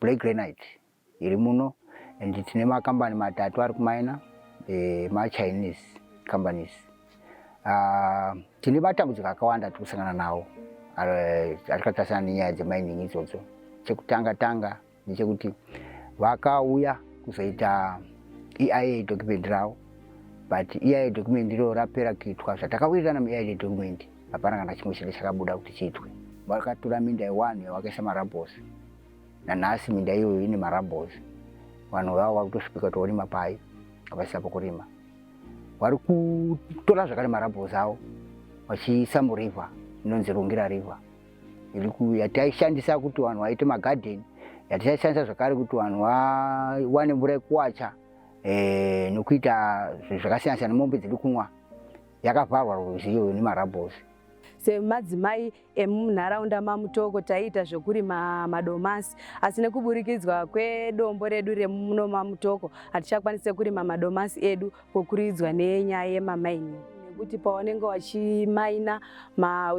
black granite iri muno and tine makambani matatu ari kumaina eh, machinese companies uh, tine matambudziko akawanda tiri kusangana nawo ari katarisana nenyaya dzemining idzodzo chekutanga tanga ndechekuti vakauya kuzoita eia document ravo but eia document iro rapera kuitwa zvatakawirirana mueia document hapana kana chimwe chinge chakabuda kuti chiitwe. Vakatura minda yewani yavakaisa marabhosi, nanhasi minda iyoyo ine marabhosi. Vanhu vavo vari kutosvipika toorima pai havasisa pokurima, vari kutora zvakare marabhosi avo vachiisa murivha inonzi Rungira River yataishandisa kuti vanhu vaite magadheni yatichaishandisa zvakare kuti vanhu vawane mvura yekuwacha eh, nokuita zvakasiyana siyana mombe dziri kunwa yakavharwa rwizi iyoyo nemarabhozi semadzimai emunharaunda mamutoko taiita zvekurima madomasi asi nekuburikidzwa kwedombo redu remuno mamutoko hatichakwanise kurima madomasi edu kokuridzwa nenyaya yemamaini nekuti pawanenge wachimaina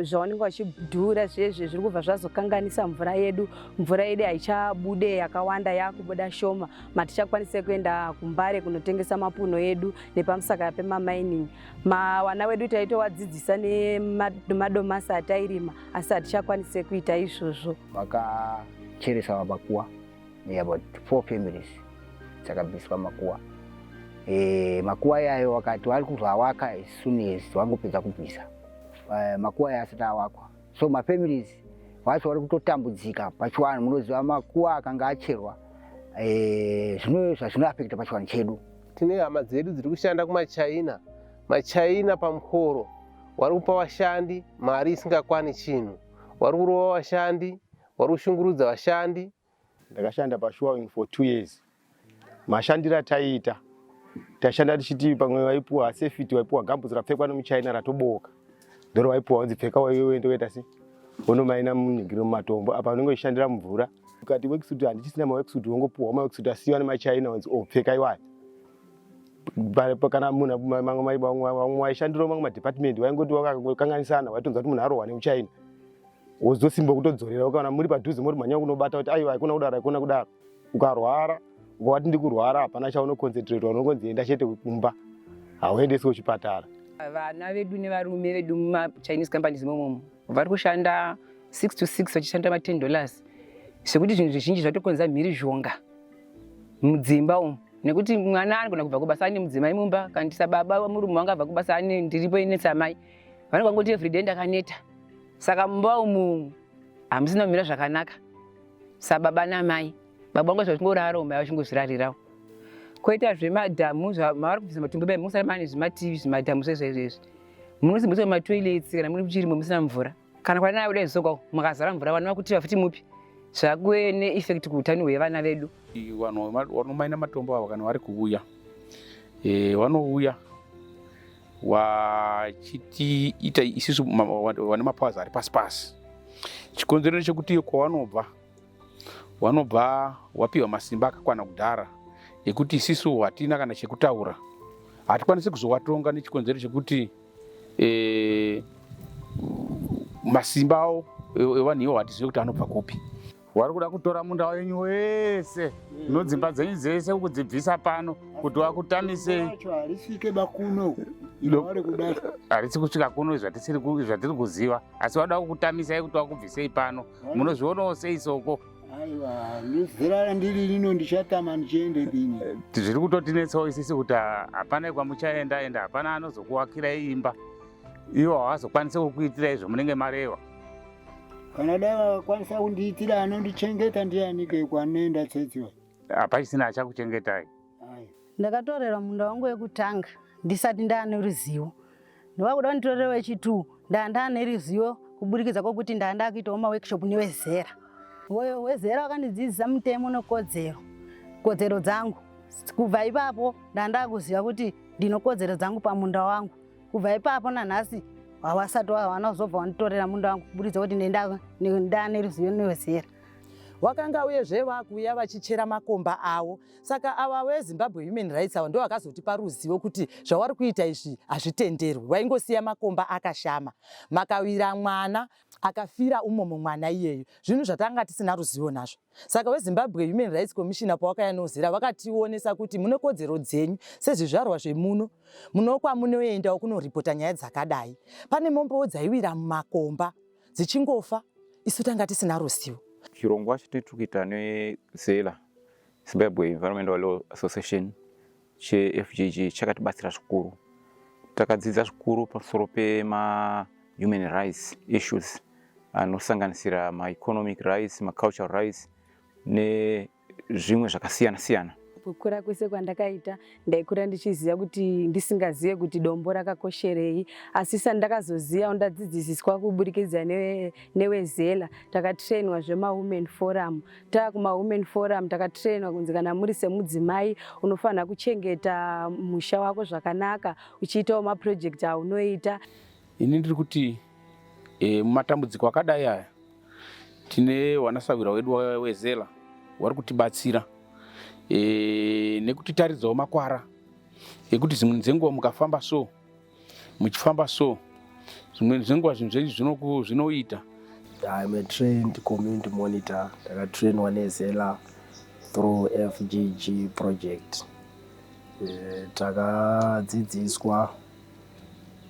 zvawanenge wachidhura zvezve zviri kubva zvazokanganisa mvura yedu mvura yedu haichabude yakawanda yakubuda shoma matichakwanise kuenda kumbare kunotengesa mapuno edu nepamusaka pemamining mawana wedu taitowadzidzisa nemadomasi atairima asi hatichakwanise kuita izvozvo vakacheresa makuwa about four families dzakabviswa makuwa e, makuwa yayo wakati wari kuzvawaka sunes wangopedza kubvisa e, makuwa yayo asati awakwa so mafamilies wacho wari kutotambudzika pachiwanhu munoziva makuwa akanga acherwa e, zvino zvazvinoafekta pachiwanhu chedu tine hama dzedu dziri kushanda kumachina machina pamukoro wari kupa vashandi mari isingakwani chinhu wari kurova vashandi wari kushungurudza vashandi ndakashanda pashuwawing for two years mashandiro ataiita tashanda tichiti pamwe waipuwa safety waipuwa gambutsi rapfekwa nemuchina ratobooka ndoro waipuwa wanzi pfeka waiwe uende uenda si wonomaina munyigiro mumatombo apa unenge uchishandira mumvura ukati wekisuti handichisina mawekisuti wongopuwa mawekisuti asiwa nemachina wanzi o oh, pfeka iwaya kana munhu vamwe waishandira mamwe madepartmendi waingoti wakakanganisana waitonza kuti munhu arohwa nemuchina wozosimba kutodzorera ukaona muri padhuze moti mhanya kunobata kuti aiwa haikona kudaro haikona kudaro ukarwara ukavati ndikurwara hapana chaunoconcentratwa unongonzi enda chete kumba hauendesi kuchipatara vana vedu nevarume vedu mumachinese companies imomomo vari kushanda six to six vachishanda maten dollars zvekuti zvinhu zvizhinji zvatokonza mhirizhonga mudzimba umu nekuti mwana anogona kubva kubasa ane mudzimai mumba kana tisababa murume wanga abva kubasa ane ndiripo ine tsamai vanogangoti everyday ndakaneta saka mumba umu hamusina kumira zvakanaka sababa namai baba vangu zvazvingorara umai vachingozvirarirawo koita zvemadhamu mavari kubvisa matumbu mai musara mane zvimativi zvimadhamu zvezvezvezvi munosimbisa matoilets kana muri kuchirimo musina mvura kana kwana nayo dai zvisoka makazara mvura vana vakuti vafuti mupi zvakuve neeffect kuutano hwevana vedu vanhu vanomaina matombo ava kana vari kuuya eh, vanouya wachitiita isisu vane mapowers ari pasi pasi chikonzero chekuti kwawanobva wanobva wapiwa masimba akakwana kudhara ekuti isisu hatina kana chekutaura hatikwanisi kuzowatonga nechikonzero chekuti e, masimba awo evanhu iwo hatizive kuti anobva kupi wari kuda kutora munda wenyu wese nodzimba dzenyu dzese ukudzibvisa pano kuti wakutamisei harisi kusvika kuno zvatiri kuziva asi wada kukutamisai kuti wakubvisei pano munozvionawo sei soko aiwa ndizera randiri rino ndichatama ndichiende dini eh, zviri kutotinetsawo isisi kuti hapana kwamuchaenda enda hapana anozokuwakirai imba iwo hawazokwanise kukuitirai zvomunenge mareva kana dai vakwanisa kundiitira anondichengeta ndiyanike kwanenda tsetsiwa hapachisina achakuchengetai ndakatorerwa munda wangu wekutanga ndisati ndaane ruzivo ndavakuda kunditorera wechitu ndaandaane ruzivo kuburikidza kwokuti ndaandaa kuitawo maworkshop newezera woyo wezera wakandidzidzisa mutemo nekodzero kodzero dzangu kubva ipapo ndandaa kuziva kuti ndinokodzero dzangu pamunda wangu kubva ipapo nanhasi hawasati wawana kuzobva wanditorera munda wangu kuburitsa kuti ndane ruzivo newezera wakanga uyezve vakuuya vachichera makomba avo saka ava wezimbabwe human rights avo ndovakazotipa ruzivo kuti zvawari kuita izvi hazvitenderwi waingosiya makomba akashama makawira mwana akafira umomo mwana iyeyo zvinhu zvatanga tisina ruzivo nazvo saka wezimbabwe human rights commissioner pawakaya nozera vakationesa kuti mune kodzero dzenyu sezvizvarwa zvemuno munokwa munoendawo kunoripota nyaya dzakadai pane mombowo dzaiwira mumakomba dzichingofa isu tanga tisina ruzivo chirongwa chatiri kuita nezela zimbabwe environmental law association cheFGG chakatibatsira zvikuru. Takadzidza zvikuru pamusoro pema human rights issues anosanganisira maeconomic rights, macultural rights nezvimwe zvakasiyana siyana. Kukura kwese kwandakaita ndaikura ndichiziva kuti ndisingazive kuti dombo rakakosherei asi sandakazoziva ndadzidzisiswa kuburikidza newezela takatrainwa zvemawomen forum Tava kuma women forum takatrainwa kunzi kana muri semudzimai unofanira kuchengeta musha wako zvakanaka uchiitawo maproject aunoita. Ini ndiri kuti e, matambudziko akadai aya tine wanasahwira wedu wezela wari kutibatsira e, nekutitaridzawo makwara ekuti dzimwe dzenguva mukafamba so muchifamba so zvimweni zvenguva zvinhu zvenyu zvinoku- zvinoita I'm a trained community monitor ndakatrainwa nezela through FGG project Eh, takadzidziswa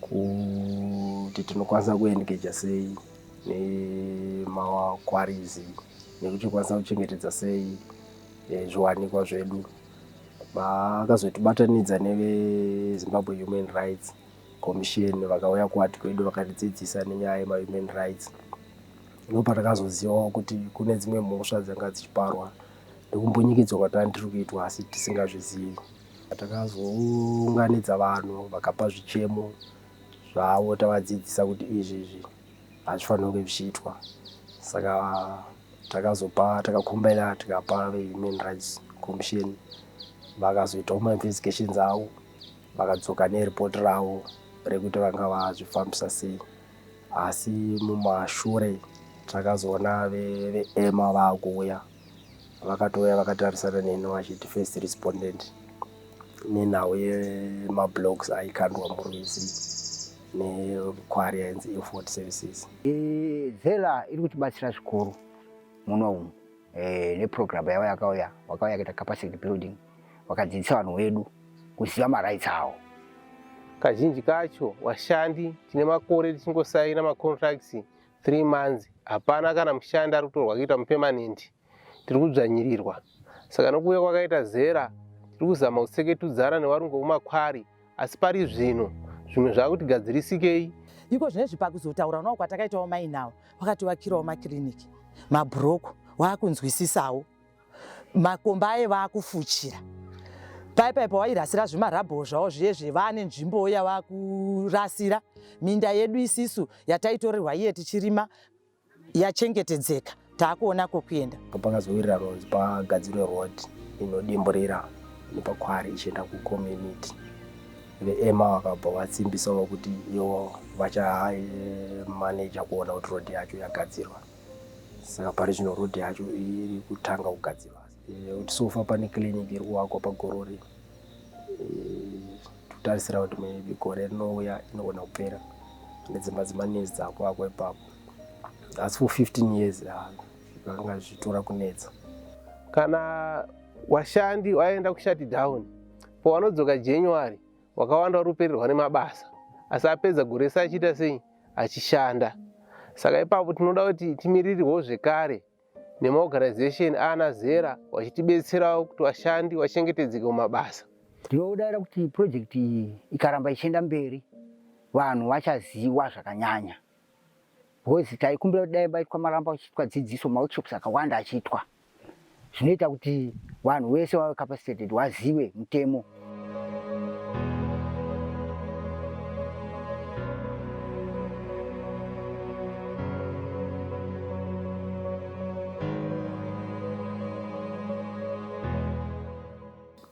kuti tinokwanisa kuengeja sei nemakwarizi nekuti kwanisa kuchengetedza sei eh, zviwanikwa zvedu Vaakazotibatanidza neveZimbabwe Human Rights Commission vakauya kuward kwedu vakatidzidzisa nenyaya yemahuman rights. Ndipo patakazozivawo kuti kune dzimwe mhosva dzanga dzichiparwa nekumbunyikidzwa kwatanga tiri kuitwa asi tisingazvizivi. Takazounganidza vanhu vakapa zvichemo zvavo tavadzidzisa kuti izvi izvi hazvifanirwe kunge zvichiitwa saka takazopa takakombaina tikapa vehuman rights commission vakazoitawo mainvestigations avo vakadzoka neripoti ravo rekuti vanga vazvifambisa sei asi mumashure takazoona veema ve vakuuya vakatouya vakatarisana neni vachiti first respondent nenhau yemablogs aikandwa murwizi nekwari yainzi Ilford Services. Zela iri kutibatsira zvikuru muno umu e, neprogramu yavo yakauya vakauya yakaita capacity building vakadzidzisa vanhu vedu kuziva marights avo. Kazhinji kacho vashandi tine makore tichingosaina macontracts three months hapana kana mushandi ari kutorwa kuita mupermanent tiri kudzvanyirirwa saka nokuuya kwakaita zera tiri kuzama kutseketudzana nevarungu vekumakwari asi pari zvino zvimwe zvaakutigadzirisikeyi iko zvine zvipakuzotaura navo kwatakaitawo mainawo vakativakirawo makiriniki mabhuroko waakunzwisisawo makomba aye vaakufuchira pai pai pawairasira zvimarabho zvavo zviye zvevane nzvimbo yavakurasira minda yedu isisu yataitorerwa iye tichirima yachengetedzeka taakuona kokuenda pangazowirira ronzi pagadzirwe road inodimburira nepakwari ichienda kucommunity veema vakabva vatsimbisawo kuti iwo vachamaneja kuona kuti road yacho yagadzirwa saka pari zvino road yacho iri kutanga kugadzirwa kuti sofa pane clinic iri kuvakwa pagorori totarisira kuti maybe gore rinouya inogona kupera nedzimba dzemanezi dzakuvakwa ipapo asi for 15 years zvakanga zvichitora kunetsa kana washandi waenda kushati down pawanodzoka january wakawanda wari kupererwa nemabasa asi apedza gore rese achiita sei achishanda saka ipapo tinoda kuti timirirwewo zvekare nemaorganization aana zera vachitibetserawo kuti vashandi vachengetedzeke mumabasa. Ndinodaira kuti project iyi ikaramba ichienda mberi vanhu vachaziwa zvakanyanya because taikumbira kuti dai baitwa maramba achiitwa dzidziso maworkshops akawanda achiitwa zvinoita kuti vanhu vese vave capacitated vazive mutemo.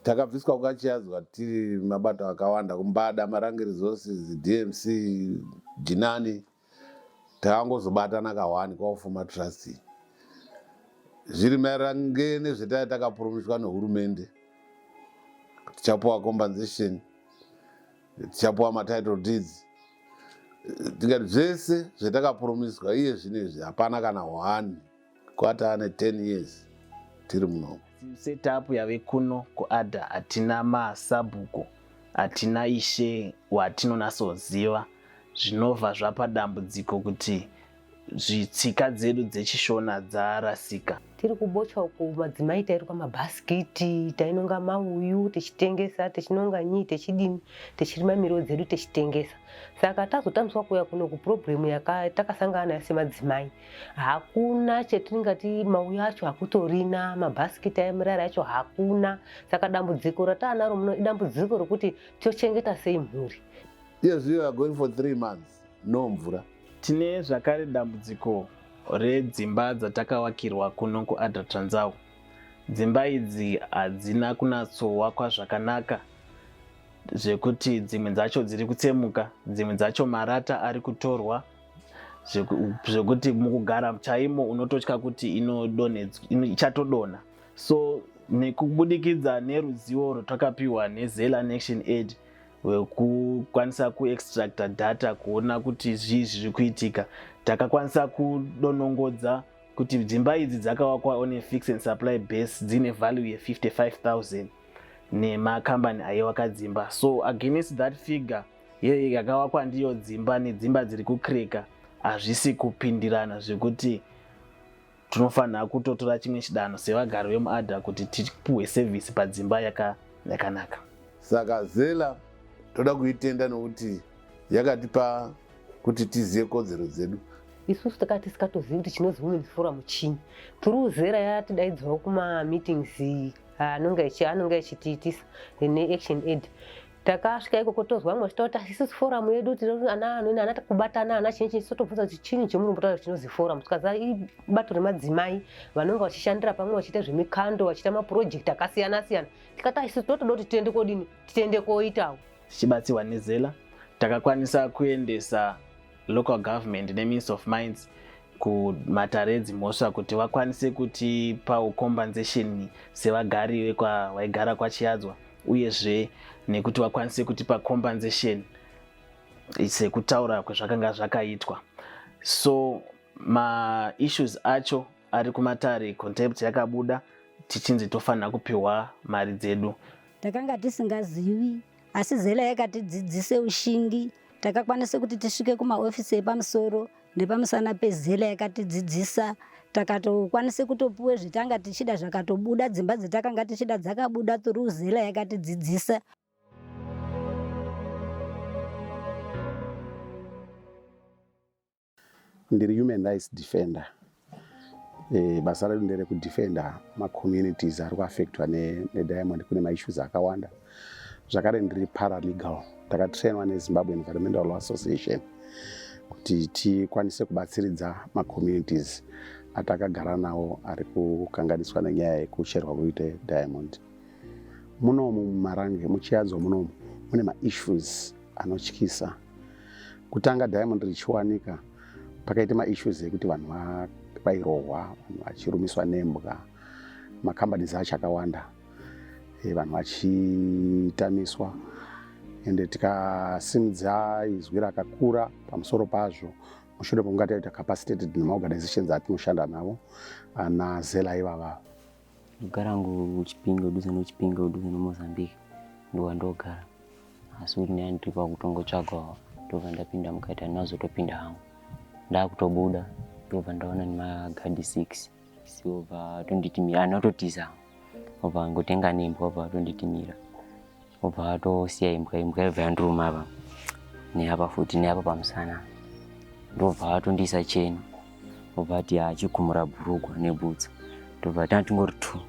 takabviswa kukachiyadzwa tiri mabato akawanda kumbada marange resources dmc jinani Takangozobatana kahwani kwaufuma trust iyi. Zviri mairange nezvetaya takapurumiswa nehurumende. Tichapuwa compensation. Tichapuwa matitle deeds. Tikati zvese zvetakapurumiswa iye zvinezvi hapana kana hwani. Kwata ane 10 years tiri muno. Setup yave kuno kuAdha hatina masabhuku, hatina ishe watinonatsoziva zvinova zvapa dambudziko kuti zvitsika dzedu dzechishona dzarasika. Tiri kubocha uku madzimai tairuka mabhasikiti, tainonga mauyu techitengesa, techinonga nyii techidini, techirima miriwo dzedu techitengesa. Saka tazotamiswa kuuya kuno kuproblem yaka takasangana nayo semadzimai. hakuna chatingati mauya acho hakutorina mabhasikiti aemirari acho hakuna saka dambudziko rataanaro muno idambudziko rokuti tochengeta sei mhuri yes we are going for three months no mvura tine zvakare dambudziko redzimba dzatakavakirwa kuno kuadra tranzau dzimba idzi hadzina kunatsowakwa zvakanaka zvekuti dzimwe dzacho dziri kutsemuka dzimwe dzacho marata ari kutorwa zvekuti mukugara chaimo unototya kuti ichatodonha so nekubudikidza neruzivo rwatakapiwa nezela nection aid wekukwanisa kuextracta data kuona kuti zvii zviri kuitika takakwanisa kudonongodza kuti dzimba idzi dzakawakwa one fix and supply base dzine value ye55000 nemakambani aiwaka dzimba so against that figure Yei yakavakwa ndiyo dzimba nedzimba dziri kukreka hazvisi kupindirana zvekuti tinofanira kutotora chimwe chidanho sevagari vemuadha kuti tipuhwe sevhisi padzimba yakanaka saka zela toda kuitenda nokuti yakatipa kuti tizive kodzero dzedu isusu takaa tisikatozivi kuti chinozi women forum chii turiu zera yatidaidzawo kumameetings anonga achitiitisa neaction aid takasvika ikoko tozwa vamwe vachitaura kuti isusu forum yedu ana kubatana ana chinyi chinyi totobvunza kuti chinyi chemuri mbotaura chinozi forum tikaza ibato remadzimai vanonga vachishandira pamwe vachiita zvemikando vachiita mapurojekti akasiyana siyana tikati isusu totoda kuti tiende kodini tiende koitawo tichibatsirwa nezela takakwanisa kuendesa local government neminister of minds kumatare edzimhosva kuti vakwanise kutipawo compensation sevagari vekwaigara kwachiyadzwa uyezve nekuti vakwanise kutipa compensation sekutaura kwezvakanga zvakaitwa so maissues acho ari kumatare contempt yakabuda tichinzi tofanira kupiwa mari dzedu takanga tisingazivi asi zela yakatidzidzise ushingi takakwanisa kuti tisvike kumaofisi epamusoro Nepamusana pezela yakatidzidzisa takatokwanisa kutopuwa zvitanga tichida zvakatobuda dzimba dzatakanga tichida dzakabuda through zela yakatidzidzisa ndiri human rights defender E, basa redu nderekudefenda macommunities ari kuaffectwa nediamond ne kune maissues akawanda zvakare ndiri paralegal takatrainwa nezimbabwe environmental law association kuti tikwanise kubatsiridza macommunities atakagara nawo ari kukanganiswa nenyaya yekucherwa kuita diamond munomu mumarange muchiyadzo munomu mune maissues anotyisa Kutanga diamond richiwanika pakaita maissues ekuti vanhu vairohwa, vanhu vachirumiswa nembwa, macompanies acho akawanda, eh, vanhu vachitamiswa ende tikasimudza izwi rakakura pamusoro pazvo mushure pokunge taita capacitated nemaorganizations atinoshanda navo ana zela ivava Ndogara hangu Chipinge kudhuze noChipinge kudhuze noMozambique ndowandogara asi kuti ndanga ndiri pakutongotsvagawo ndobva ndapinda mukati handina kuzotopinda hangu ndakutobuda ndobva ndaona nemagadi six siobva atonditimira handina kutotiza obva angotenga nembwa obva atonditimira obva atosiya imbwa imbwa yabva yandiruma apa neapa futi neapa pamusana ndobva atondiisa cheni obva ati achikumura bhurugwa nebhutsa ndobva tanga tingori two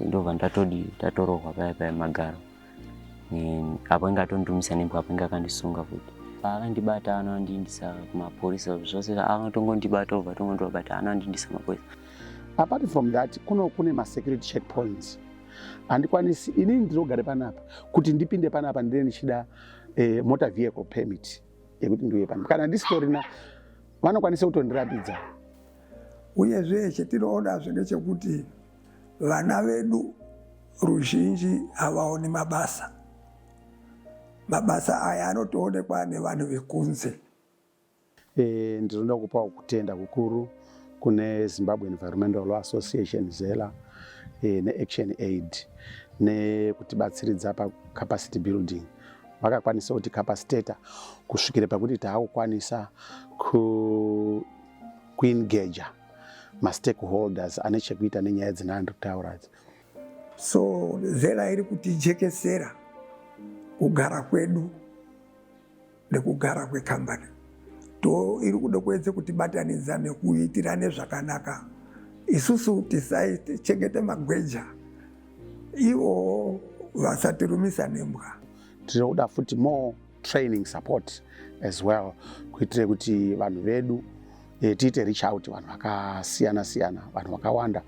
ndobva ndatodi tatorohwa paya paya magaro apo inge atondumisa nembwa apo inge akandisunga futi paakandibata anondindisa kumapurisa zvose anotongondibata obva tongondibata anondindisa kumapurisa apart from that kuno kune masecurity checkpoints handikwanisi inini ndinogare panapa kuti ndipinde panapa ndine ndichida eh, motor vehicle permit yekuti ndiuye panapa kana ndisitorina vanokwanisa kutondirambidza uyezve chetinoonazve ndechekuti vana vedu ruzhinji havaoni mabasa mabasa aya anotoonekwa nevanhu vekunze E, ndinoda kupawo kutenda kukuru kune Zimbabwe Environmental Law Association ZELA e, neAction Aid nekutibatsiridza pacapacity building vakakwanisa kuti capacitator kusvikira pakuti taakukwanisa ku, kuengager mastakeholders ane chekuita nenyaya dzina andiri kutaura idzi so zera iri kutijekesera kugara kwedu nekugara kwekambani to iri kuda kuedze kutibatanidza nekuitirane zvakanaka isusu tisachengete magweja ivo vasatirumisa nembwa tiri kuda futi more training support as well kuitire kuti vanhu vedu e, tiite reach out vanhu vakasiyana siyana vanhu vakawanda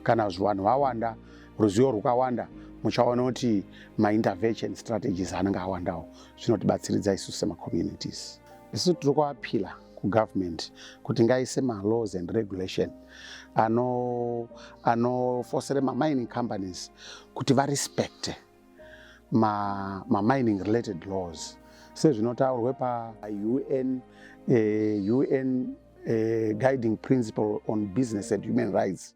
kana vanhu vawanda ruzivo rwukawanda muchaona kuti maintervention strategies anenge awandawo zvinotibatsiridza isu semacommunities isu tiri kuapila kugovernment kuti ngaise malaws and regulation anofosere ano mamining companies kuti varespecte mamining ma related laws sezvinotaurwe paun eh, un eh, guiding principle on business and human rights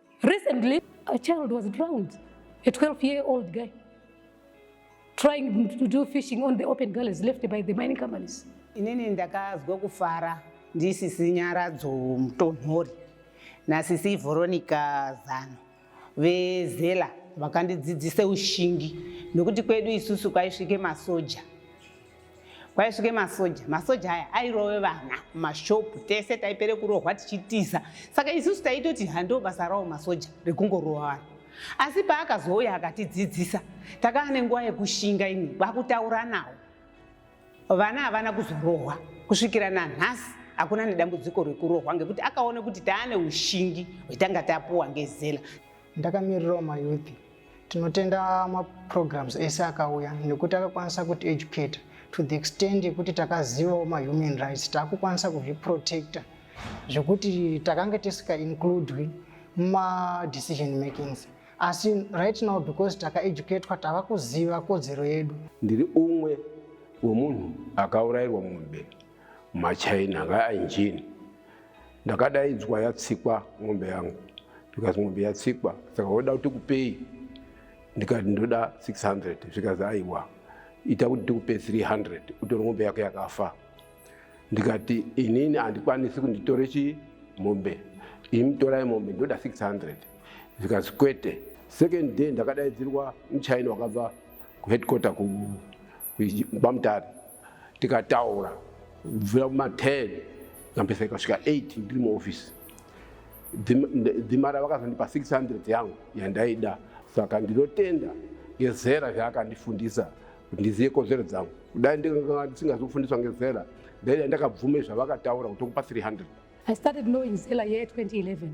Recently, a child was drowned, a 12 year old guy, trying to do fishing on the open gullies left by the mining companies. Inini ndakazwa kufara ndisisi Nyaradzo Mutonhori nasisi Veronica Zano vezela vakandidzidzisa ushingi nokuti kwedu isusu kwaisvike masoja kwaisvike masoja masoja aya airove vana mashopu tese taipere kurohwa tichitiza saka isusu taitoti hando basa rawo masoja rekungorova vanhu asi paakazouya akatidzidzisa takaa nenguva yekushinga imwe kwakutaura nawo vana havana kuzorohwa kusvikira nanhasi hakuna nedambudziko rekurohwa ngekuti akaona kuti taane ushingi hwetanga tapuwa ngezela Ndakamirirawo mayouth. Tinotenda maprograms ese akauya nekuti akakwanisa kuti educate to the extent yekuti takazivawo mahuman rights takukwanisa kuzviprotecta zvekuti takanga tisika includwi mumadecision makings asi right now because takaeducatwa tava kuziva kodzero yedu ndiri umwe wemunhu akaurairwa mumbe machaina anga ainjini ndakadaidzwa yatsikwa mombe yangu ndikazi mombe yatsikwa saka woda kuti kupei ndikati ndoda 600 zvikazi aiwa ita kuti tikupe 300 utore mombe yako yakafa ndikati inini handikwanisi kunditore chi mombe imi torai mombe ndoda 600 zvikazi kwete second day ndakadaidzirwa muchaina wakabva kuheadquarter ku kwamutare tikataura kubvira kuma 10 ndambesa ikasvika 8 ndiri muoffice dhimara vakazondipa 600 yangu yandaida saka ndinotenda ngezera zvaakandifundisa kuti ndizive kodzero dzangu kudai ndikanga ndisingazofundiswa ngezera ndaida ndakabvume zvavakataura kuti okupa 300 I started knowing Zela year 2011.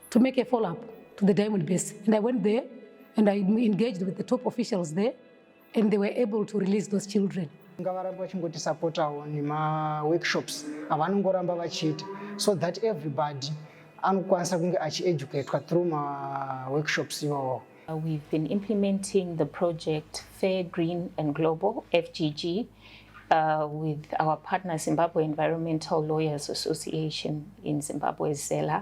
to make a follow up to the diamond base and i went there and i engaged with the top officials there and they were able to release those children ngavarambe vachingotisapotawo nemaworkshops avanongoramba vachiita so that everybody anokwanisa kunge achieducatwa through maworkshops iwawo Uh, we've been implementing the project Fair, Green and Global, FGG, uh, with our partner Zimbabwe Environmental Lawyers Association in Zimbabwe, ZELA.